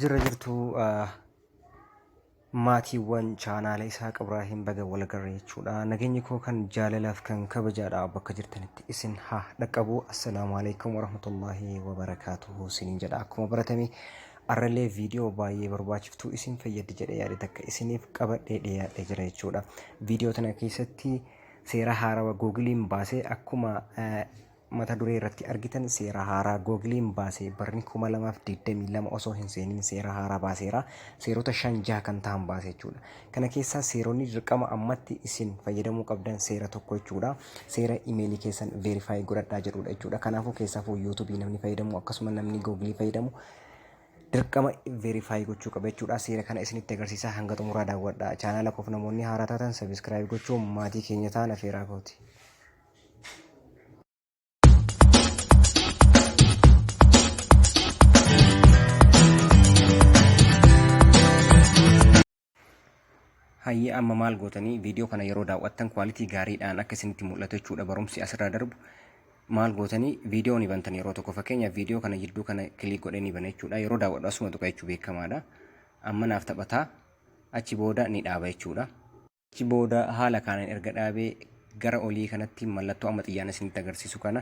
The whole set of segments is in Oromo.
Jirra jirtuu ah, maatiiwwan chaanaala Isaaq Ibraahiim baga walagarra jechuudha. Nageenyi koo kan jaalalaaf kan kabajaadha bakka jirtanitti isin haa dhaqqabu. Assalaamu alaikum warahmatullaahi wabarakaatuhu isiniin jedha. Akkuma baratame arrallee viidiyoo baay'ee barbaachiftuu isin fayyaddi jedhee yaade takka isiniif qabadhee dhiyaadhee jira jechuudha. Viidiyoo tana keessatti seera haarawa googiliin baasee akkuma eh, Mata duree irratti argitan seera haaraa Googiliin baase barni 2022 osoo hin seeniin seera haaraa baaseera. Seerota shan jaha kan tahan baase jechuudha. Kana keessaa seeronni dirqama ammatti isin fayyadamuu qabdan seera tokko jechuudha. Seera imeelii keessan veerifaayi godhadhaa jedhuudha jechuudha. Kanaafuu keessaafuu yuutuubii namni fayyadamu akkasuma namni googilii fayyadamu dirqama veerifaayi gochuu qaba jechuudha. Seera kana isinitti agarsiisaa hanga xumuraa daawwadha. Chaanaala koof namoonni haaraa taatan sabiskiraayib gochuun maatii keenya ta'an afeeraa kooti. Hayyee amma maal gootanii viidiyoo kana yeroo daawwattan kwaalitii gaariidhaan akka isinitti mul'atu jechuudha barumsi asirraa darbu. Maal gootanii viidiyoo ni bantan yeroo tokko fakkeenyaaf viidiyoo kana jidduu kana kiliik godhee ni bana jechuudha yeroo daawwadhu asuma tuqa jechuu beekamaadha. Amma naaf taphataa achi booda ni dhaaba jechuudha. Achi booda haala kaanan erga dhaabee gara olii kanatti mallattoo amma xiyyaan isinitti agarsiisu kana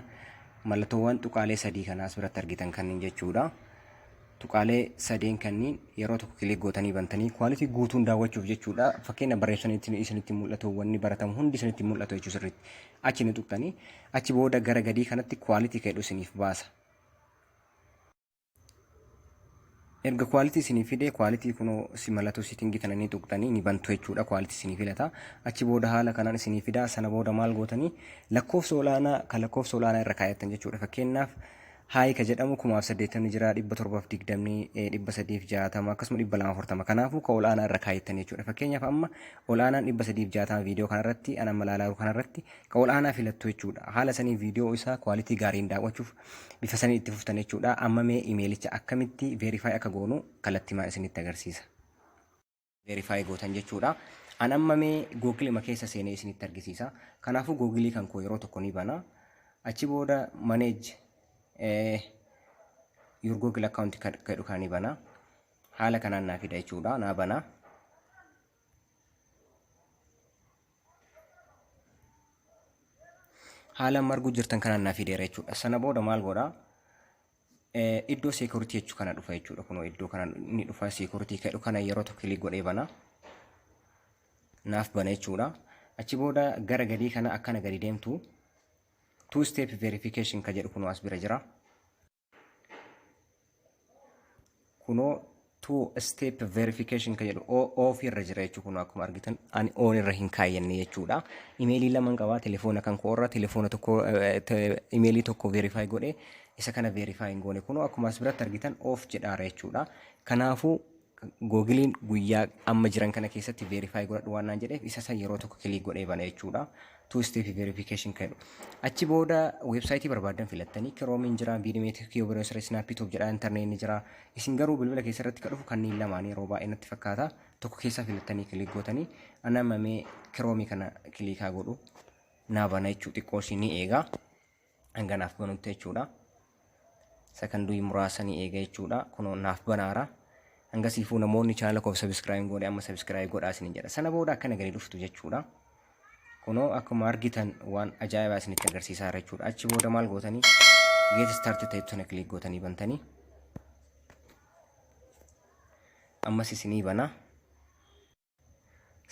mallattoowwan tuqaalee sadii kana as biratti argitan kanniin jechuudha. Tuqaalee sadeen kanniin yeroo tokko kilik gootanii bantanii kwaalitii guutuun daawwachuuf jechuudha. Fakkeenya barreessanitti isinitti mul'atu wanni baratamu hundi isinitti mul'atu jechuudha sirriitti. Achi ni tuqtanii achi booda gara gadii kanatti kwaalitii keedhu isiniif baasa. erga quality isinii fide quality kunoo si mallattoo setting tana ni tuqxanii ni bantu jechuudha quality isinii filata achi booda haala kanaan isinii fida sana booda maal gootanii lakkoofsa olaanaa kan lakkoofsa olaanaa irra kaayattan jechuudha fakkeenyaaf haayi ka jedhamu kumaaf saddeettamni jira dhibba torbaaf digdamni dhibba sadiif jaatama akkasuma dhibba lama afurtama kanaafuu ka olaanaa irra kaayattan jechuudha fakkeenyaaf amma olaanaan dhibba sadiif jaatama viidiyoo kanarratti an amma laalaaru kanarratti ka olaanaa filattu jechuudha haala sanii viidiyoo isaa quality gaariin daawwachuuf bifa sanii itti fuftan jechuudha amma mee imeelicha akkamitti verify akka goonu kallattimaan isinitti agarsiisa verify gootan jechuudha an amma mee googilima keessa seenee isinitti argisiisa kanaafuu googilii kan koo yeroo tokko ni bana achi booda manage your google account jedhu kan ni bana haala kanaan naa fida jechuudha naa bana haala amma arguu jirtan kanaan naa fideera jechuudha. Sana booda maal godha? Eh, Iddoo security jechuu kana dhufa jechuudha. Kunoo iddoo kana ni dhufa security jedhu kana yeroo tokko kilik godhee bana. Naaf bana jechuudha. Achi booda gara gadii kana akkana gadi deemtu two step verification ka jedhu kunoo as bira jira. kunoo two step verification kan jedhu off irra jira jechuudha kun akkuma argitan ani on irra hin kaayyanne jechuudha imeelii lamaan qabaa telefoona kan koorra telefoona tokko imeelii tokko verify godhe isa kana verify hin goone kunoo akkuma as biratti argitan off jedhaara jechuudha kanaafuu Googiliin guyyaa amma jiran kana keessatti verify godhadhu waan naan jedheef isa san yeroo tokko kiliik godhee bana jechuudha. Two step verification kan jedhu. Achi booda weebsaayitii barbaaddan filattanii kiroomiin jira, biidimeetii kiyoo biroosira isnaappiitoop jedha, intarneetni jira. Isin garuu bilbila keessa irratti kan dhufu kanneen lamaanii yeroo baay'ee natti fakkaata. Tokko keessaa filattanii kiliik gootanii anamma mee kiroomii kana kiliikaa godhu naa bana jechuu xiqqoo ishii ni eegaa. hanga naaf banutti jechuudha sakandii muraasa ni eega jechuudha kunoo naaf banaara hanga siifuu namoonni chaanala koof sabiskiraayib godhe amma sabiskiraayib godhaa isin jedha sana booda akkana gadi dhuftu jechuudha kunoo akkuma argitan waan ajaa'ibaa isinitti agarsiisaa jira jechuudha achi booda maal gootanii geet istaarti ta'etu sana kiliik gootanii bantanii ammas isinii banaa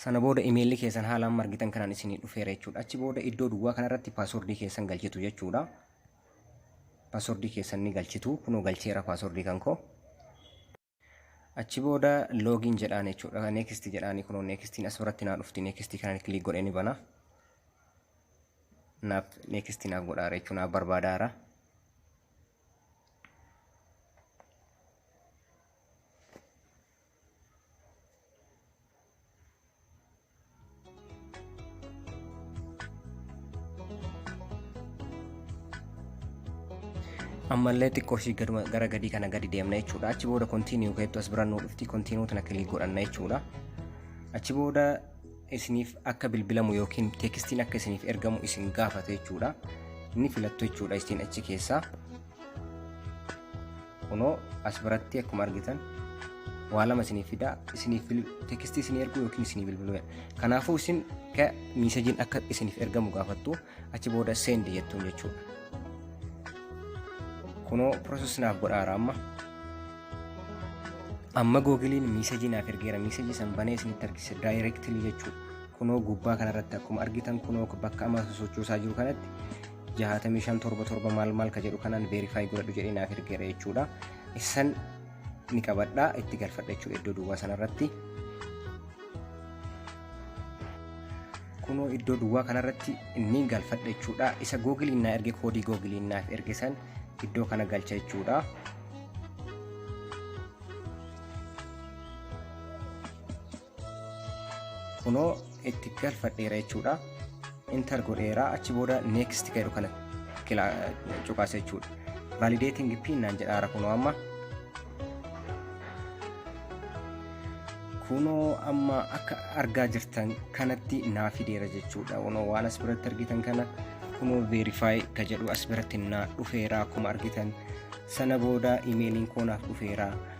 Sana booda imeelli keessan haala amma argitan kanaan isinii dhufeera jechuudha. Achi booda iddoo duwwaa kanarratti paaswordii keessan galchitu jechuudha. Paaswordii keessan ni galchitu. Kunoo galcheera paaswordii kan koo. Achi booda loogiin jedhaan jechuudha. Neekistii jedhaanii kunoo neekistiin as biratti naa dhufti. Neekistii kanaan kiliik godhee ni bana. Naaf neekistii naaf godhaara jechuudha. Naaf barbaadaara. ammallee xiqqoo ishii gaduma- gara gadii kana gadi deemna jechuudha achi booda kontiiniyuu keettu as birannuu dhufti kontiiniyuu tana kilii godhanna jechuudha achi booda isiniif akka bilbilamu yookiin teekstiin akka isiniif ergamu isin gaafata jechuudha inni filattu jechuudha isiin achi keessaa kunoo as biratti akkuma argitan waa lama isiniif fidaa isiniif tekstii isinii erguu yookiin isinii bilbiluu kanaafuu isin ka miisajiin akka isiniif ergamu gaafattu achi booda seendi jettuun jechuudha kunoo piroosesii naaf godhaara amma amma googiliin miisajii naaf ergeera miisajii san banee isinitti argisiisa daayireektilii jechuudha kunoo gubbaa kanarratti akkuma argitan kunoo bakka amma sochoosaa jiru kanatti jahaatamii shan torba torba maal maal ka jedhu kanaan verify godhadhu jedhee naaf ergeera jechuudha. Issan ni qabadha itti galfadha jechuudha iddoo duwwaa sanarratti. Kunoo iddoo duwwaa kanarratti ni galfadha jechuudha. Isa googiliin naa erge koodii googiliin naaf erge san iddoo kana galcha jechuudha. kunoo itti galfadheera jechuudha intar godheera achi booda next jedhu kana cuqaasa jechuudha validating pin naan jedhaara kunoo amma kunoo amma akka argaa jirtan kanatti naa fideera jechuudha kunoo waan as biratti argitan kana kunoo verify ka jedhu as biratti naa dhufeera akkuma argitan sana booda imeeliin koo naaf dhufeera